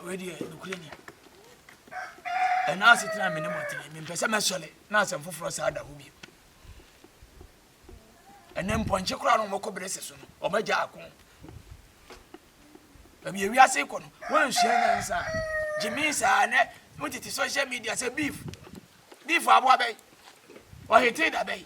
wei deɛ nokorɛ ni ɛna asetena me ne mɔtene mempɛ sɛ mɛsɔre na asɛm foforɔ saa da hɔ bio ɛnɛ mpɔnkye koraa no ɔmɔkɔ berɛ sɛ so no ɔmagya ako baabi awiase kɔ no woansua nyansa gye me saa nɛ motete social media sɛ beef beef aboa bɛyi ɔhetee da bɛyi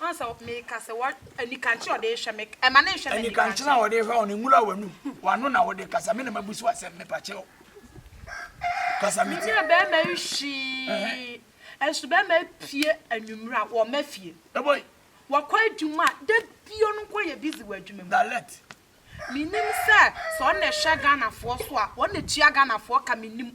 Ɔn sɛ meka sɛ wɔ anikankyerɛ ɔde hwɛ me ɛma ne nhwɛ me anikankyerɛ a ɔde hwɛ ɔno nwura w'anum w'ano na wode kasa me na mabu so asɛm mepakyɛw kasa me ti. Menyɛ bɛrima yi hwee ɛnso bɛrima pie anwummerɛ a wɔn afie ɛbɔi wɔkɔ adwuma a da bio no nkɔ yɛ busy wɔ adwuma mu na let menim sɛ sɛ ɔna ɛhwɛ Ghanafoɔ so a ɔna tua Ghanafoɔ ka menim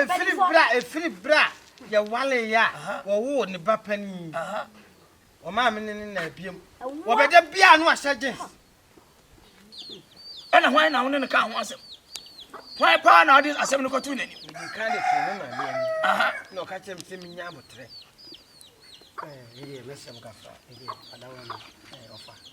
ɛfiri berɛ a ɛfiri berɛ a yɛwaleeɛ a wɔwoo ne ba panin ɔmaa me ne ne na abiem wɔbɛda biaa no ahyɛ gyens ɛna hwan na wo ne no ka ho asɛm hwan paa na ɔde asɛm no kɔto n'anim mede ka de to me ma me ani na ɔka kyerɛ me sɛ menya aboterɛ ɛdeɛ mɛsɛm kafa ɛdeɛ adawa no ɔfa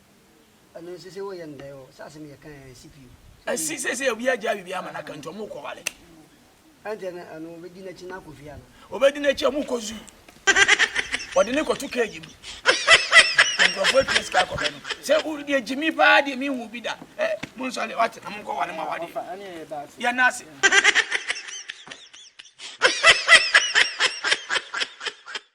Ɛno nso sɛ woyɛ ndɛn o sɛ asɛm yɛ kan ɛnsi pii o. Ɛnsi sɛ sɛ obi agyaa biribi ama no aka nti ɔmo kɔ ware. Ɛnteɛ no ɛno obedi n'akyi na akɔ fie ana. Obedi n'akyi ɔmo kɔ zoo wɔde no kɔto cage mu nkorɔfoɔ atua sika akɔ bɛ no sɛ wo deɛ gyimi paa deɛ mi hu bi da ɛ mo nsɔre wate na mo nkɔ ware ma wade yɛ nase.